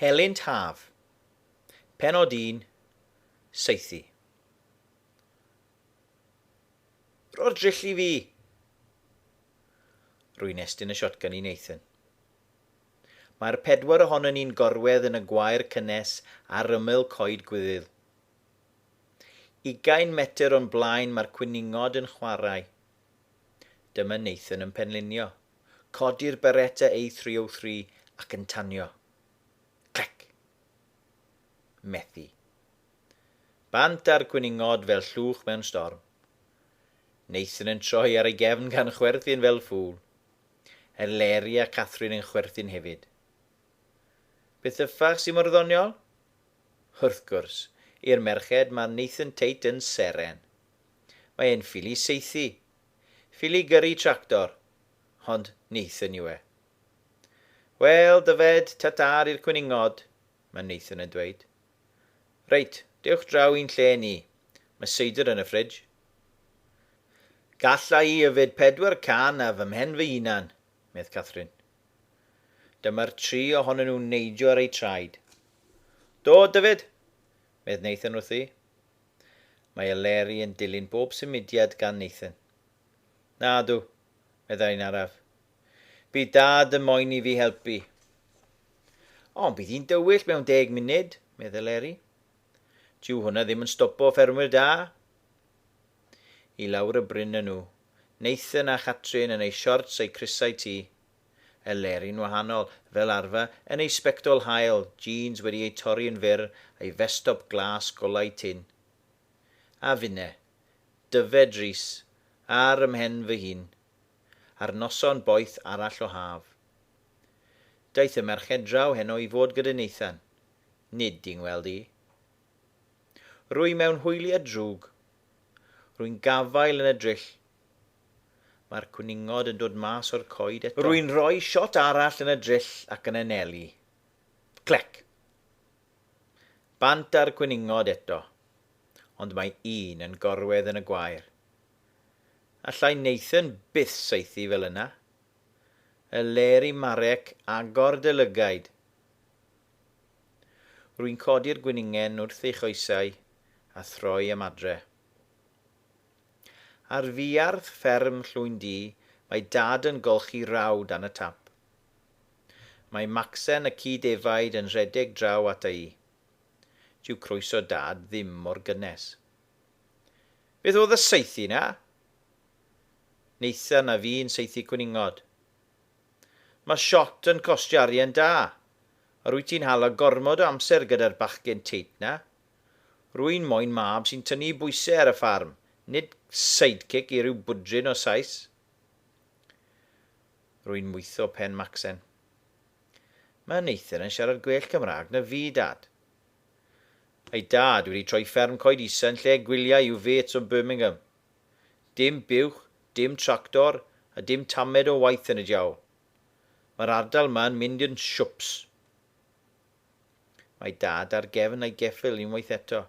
Helynt Haf, Pennod 1, Saethu. Rho'r dryll i fi! Rwy'n estyn y shotgun i Nathan. Mae'r pedwar ohonon ni'n gorwedd yn y gwair cynnes ar ymyl coed gwyddyl. Ugain metr o'n blaen mae'r cwningod yn chwarae. Dyma Nathan yn penlinio. Codi'r Beretta A303 ac yn tanio. Clic. Methu. Bant a'r cwningod fel llwch mewn storm. Nathan yn troi ar ei gefn gan chwerthin fel ffŵl. Eleri a Catherine yn chwerthin hefyd. Beth y ffach sy'n mor ddoniol? Wrth gwrs, i'r merched mae Nathan Tate yn seren. Mae e'n ffili saethu, Ffili i gyrru tractor, hond Nathan yw e. Wel, Dyfed, ta-ta i'r cwningod, mae Nathan yn dweud. Reit, dewch draw i'n lle ni, mae seidr yn y ffridge. Galla i yfed pedwar can ar fy mhen fy hunan, medd Catherine. Dyma'r tri ohonyn nhw'n neidio ar eu traed. Do, Dyfed, medd Nathan wrthi. Mae Eleri yn dilyn bob symudiad gan Nathan. Nadw, meddai'n araf. Bydd Dad yn moyn i fi helpu. Ond bydd hi'n dywyll mewn deg munud, medd Eleri. Dyw hwnna ddim yn stopo ffermwyr da. I lawr y bryn â nhw, Nathan a Chatrin yn eu siorts a'u crysau tu. Y lerin wahanol, fel arfer, yn ei sbectol haul, jîns wedi eu torri yn fyr, a'i festop glas golau tynn. A finne. Dyfed Rhys. Ar 'y mhen fy hun. Ar noson boeth arall o haf. Daeth y merched draw heno i fod gyda Nathan. Nid i 'ngweld i. Rwy mewn hwyliau drwg. Rwy'n gafael yn y dryll. Mae'r cwningod yn dod mas o'r coed eto. Rwy'n rhoi shot arall yn y dryll ac yn anelu. Clec! Bant â'r cwningod eto, ond mae un yn gorwedd yn y gwair. Allai Nathan byth saethu fel yna. Y ler i Marek agor dy lygaid! Rwy'n codi'r gwningen wrth ei choesau a throi am adre. Ar fuarth fferm Llwyn-du mae Dad yn golchi raw dan y tap. Mae Macsen y ci defaid yn rhedeg draw ata i. Dyw croeso Dad ddim mor gynnes. Beth oedd y saethu 'na? Neitha na fi'n saethu cwningod. Mae shot yn costio arian da, a rwyt ti'n hala gormod o amser gyda'r bachgen teit 'na. Rwy'n moyn mab sy'n tynnu bwysau ar y ffarm, nid sidekick i ryw bwdrin o Sais. Rwy'n mwyddo pen Macsen. Mae Nathan yn siarad gwell Cymraeg na fi, Dad. Ei dad wedi troi fferm coed isa yn lle gwyliau i'w fêts o Birmingham. Dim buwch, dim tractor, a dim tamed o waith yn y diawl. Mae'r ardal 'ma yn mynd yn siwps. Mae Dad ar gefn ei geffyl unwaith eto.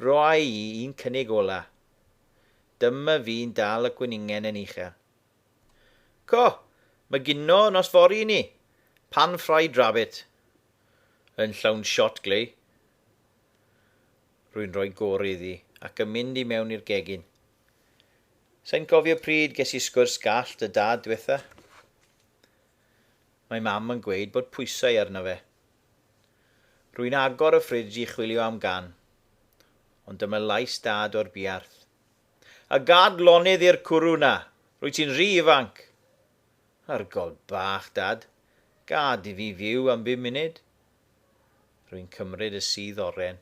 Roi i un cynnig ola. Dyma fi'n dal y gweningen yn uchel. Co! Mae gino nos fory i ni! Pan fried rabbit! Yn llawn shot glei. Rwy'n rhoi gore iddi ac yn mynd i mewn i'r gegin. Sain cofio pryd ges i sgwrs gallt dy Dad dwetha. Mae Mam yn gweud bod pwysau arno fe. Rwy'n agor y ffridj i chwilio am gan, ond dyma lais Dad o'r buarth. A gad lonydd i'r cwrw 'na! Rwyt ti'n rhy ifanc! Argol bach, Dad. Gad i fi fyw am bum munud. Rwy'n cymryd y sudd oren.